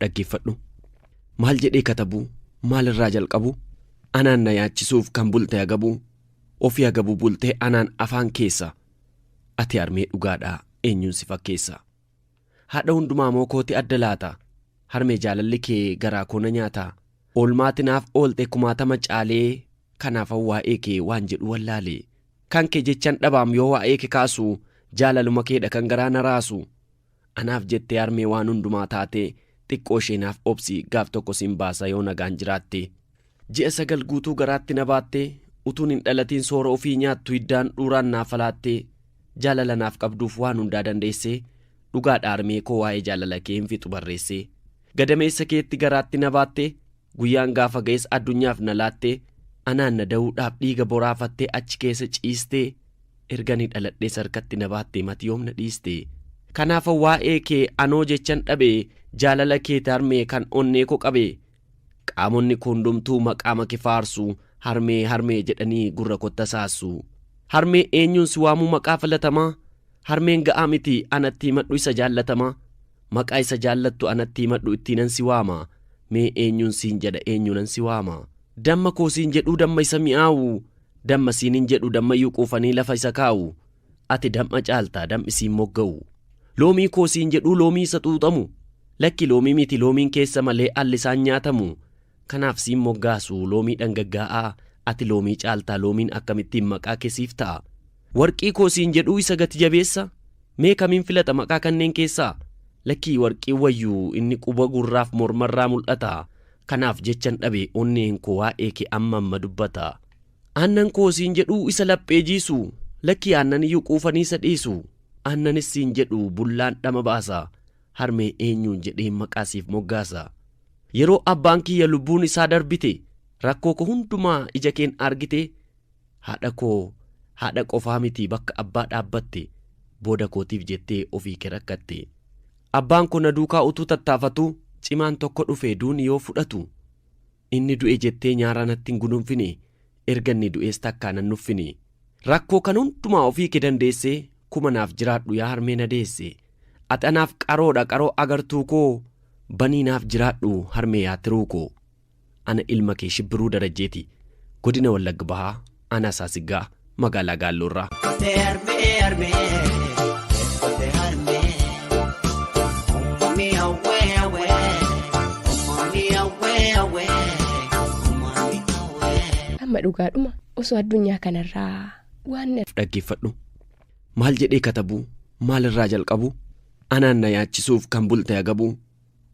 dhaggeeffadhu maal jedhee katabuu maalirraa jalqabu anaan na yaachisuuf kan bulte agabuu ofii agabuu bultee anaan afaan keessa ati armee dhugaadhaa eenyuun si fakkeessa Haadha hundumaa moo kooti adda laata? Harmee jaalalli kee garaa koo na nyaata. Oolmaa ati naaf oolte kumaatama caalee Kanaafan waa'ee kee waan jedhu wallaale. Kan kee jechan dhabaam yoo waa'ee ke kaasu Jaalaluma kee dha kan garaa na raasu. Anaaf jettee harmee waan hundumaa taate Xiqqoo ishee naaf obsi gaaf tokko sin baasa yoo nagaan jiraatte. Ji'a sagal guutuu garaatti na baattee Utuun hin dhalatiin soora ofii nyaattu Hiddaan dhuuraan naaf alaattee Jaalala naaf qabduuf waan hundaa dandeessee Dhugaadha harmee koo waa'ee jaalala kee hin fixu barreessee Gadameessa keetti garaatti na baattee Guyyaan gaafa ga'es addunyaaf na laattee Anaan na da'uudhaaf dhiiga boraafattee Achi keessa ciistee Ergani dhaladhees harkatti na baattee Mati yoom na dhiistee Kanaafan waa'ee kee anoo jechan dhabee Jaalala keeti harmee kan onnee koo qabee Qaamonni koo hundumtuu maqaa make faarsu, Harmee, harmee jedhanii gurra kootti hasaassu. Harmee eenyuun si waamuu maqaa filatamaa? Harmeen ga'aa miti anatti himadhu isa jaallatamaa? Maqaa isa jaallattu anatti himadhu ittiinan si waama? Mee eenyuun siin jedha eenyuunan si waama? Damma koo siin jedhuu damma isa mi'aawu, Damma siinin jedhu dammayyuu quufanii lafa isa kaa'u. Ati dam'a caalta, dam'i siin mogga'u. Loomii koo siin jedhuu loomii isa xuuxamu. Lakki loomii miti loomiin keessa malee alli isaan nyaatamu. Kanaaf siin moggaasu loomii dhangaggaa'aa, ati loomii caalta loomiin akkamittiin maqaa kee siif ta'a. Warqii koo siin jedhuu isa gati jabeessa? Mee kamiin filata maqaa kanneen keessaa? Lakki warqiin wayyu inni quba gurraaf mormarraa mul'ata. Kanaaf jechan dhabe onneen koo waa'ee kee amma amma dubbata. Aannan koo siin jedhuu isa laphee jiisu, lakkii aannan iyyuu quufanii isa dhiisu. Aannanis siin jedhu bullaan dhama baasa, harmee eenyuun jedheen maqaa siif moggaasa. Yeroo abbaan kiyya lubbuun isaa darbite, rakkoo koo hundumaa ija keen argite, haadha koo haadha qofaa miti bakka abbaa dhaabbatte, booda kootiif jettee ofii kee rakkatte. Abbaan koo na duukaa utuu tattaafatuu, cimaan tokko dhufee duuni yoo fudhatu. Inni du'e jettee nyaaraa natti hin gununfini, erga inni du'ees takkaa nan nuffini. Rakkoo kan hundumaa ofii kee dandeesse, kuma naaf jiraadhu yaa harmee na deesse. Ati anaaf qaroodha qaroo agartuu koo, banii naaf jiraadhu harmee yaa tiruu koo. Ana ilma kee Shibbiruu Darajjeeti, Godina Wallagg Bahaa. Aanaa Saasiggaa Magaalaa Gaalloo irraa. Kote harmee harmee kote harmee uumamni hawwee hawwee uumamni hawwee hawwee uumamni hawwee. Amma dhugaadhuma osoo addunyaa kanarraa waan na Dhaggeeffadhu. Maal jedhee katabuu? Maalirraa jalqabuu? Anaan na yaachisuuf kan bulte agabuu.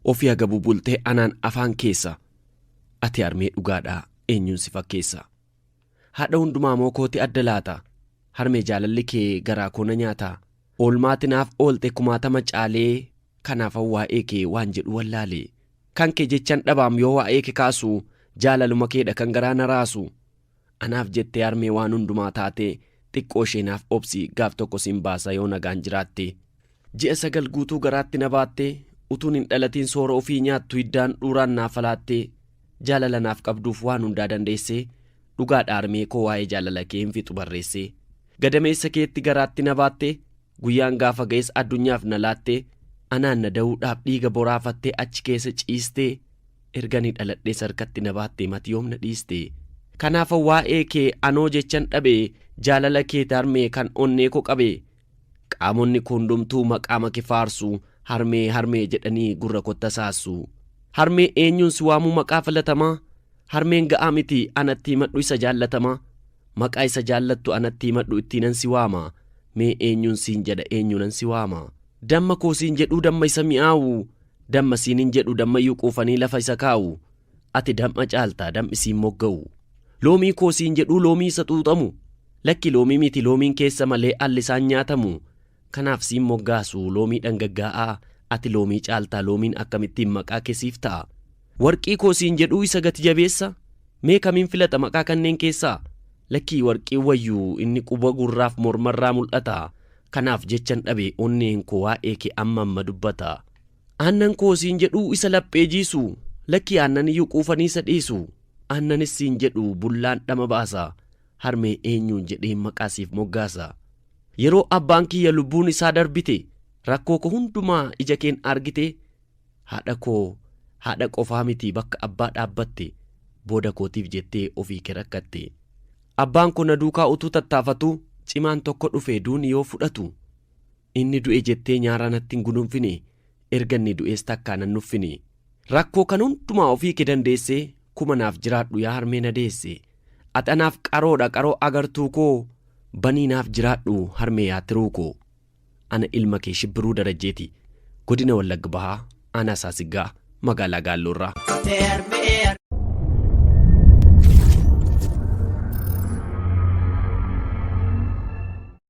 Ofii agabuu bultee anaan afaan keessa. Ati harmee dhugaadhaa eenyuun si fakkeessa. Haadha hundumaa moo kooti adda laata? Harmee jaalalli kee garaa koo na nyaata. Oolmaa ati naaf oolte kumaatama caalee Kanaafan waa'ee kee waan jedhu wallaale. Kan kee jechan dhabaam yoo waa'ee ke kaasu Jaalaluma keedha kan garaa na raasu. Anaaf jettee harmee waan hundumaa taate Xiqqoo ishee naaf obsi gaaf tokko sin baasa yoo nagaan jiraatte. Ji'a sagal guutuu garaatti na baattee Utuun hin dhalatiin soora ofii nyaattu Hiddaan dhuuraan naa falaattee Jaalala naaf qabduuf waan hundaa dandeessee Dhugaadha harmee koo waa'ee jaalala kee hin fixu barreessee Gadameessa keetti garaatti na baattee Guyyaan gaafa ga'es addunyaaf na laattee Anaan na da'uudhaaf dhiiga boraafattee Achi keessa ciistee Ergani dhaladhees harkatti na baattee Mati yoom na dhiistee Kanaafan waa'ee kee anoo jechan dhabee Jaalala keeti harmee kan onnee koo qabee Qaamonni kuundumtuu maqaa make faarsu, Harmee, harmee jedhanii gurra kotta saassu. Harmee eenyuun si waamuu maqaa filatamaa? Harmeen ga'aa miti anatti himadhu isa jaallatamaa? Maqaa isa jaallattu anatti himadhu ittiinan si waama? Mee eenyuun siin jedha eenyuunan si waama? Damma koo siin jedhuu damma isa mi'aawu, Damma siinin jedhu dammayyuu quufanii lafa isa kaawu, Ati dam'a caalta, dam'i siin mogga'u. Loomii koo siin jedhuu loomii isa xuuxamu. Lakki loomii miti loomiin keessa malee alli isaan nyaatamu. Kanaaf siin moggaasu loomii dhangaggaa'aa, ati loomii caalta loomiin akkamittiin maqaa kee siif ta'a. Warqii koo siin jedhuu isa gati jabeessa? Mee kamiin filata maqaa kanneen keessaa? Lakkii warqiin wayyu inni quba gurraaf mormarraa mul'ata. Kanaaf jechan dhabe onneen koo waa'ee kee amma amma dubbata. Aannan koo siin jedhuu isa laphee jiisu Lakkii aannan iyyuu quufanii isa dhiisu Aannanis siin jedhu bullaan dhama baasa Harmee eenyuun jedheen maqaa siif moggaasa Yeroo abbaan kiyya lubbuun isaa darbite Rakkoo koo hundumaa ija keen argite Haadha koo haadha qofaa miti bakka abbaa dhaabbatte Booda kootiif jettee ofii kee rakkatte Abbaan koo na duukaa utuu tattaafatuu Cimaan tokko dhufe duuni yoo fudhatu Inni du'e jettee nyaaraa natti hin gudunfini, erga inni du'ees takkaa nan nuffini. Rakkoo kan hundumaa ofii kee dandeesse, kuma naaf jiraadhu yaa harmee na deesse. Ati anaaf qaroodha qaroo agartuu koo, banii naaf jiraadhu harmee yaa tiruu koo. Ana ilma kee Shibbiruu Darajjeeti, Godina Wallagg Bahaa, Aanaa Saasiggaa, Magaalaa Gaalloorraa.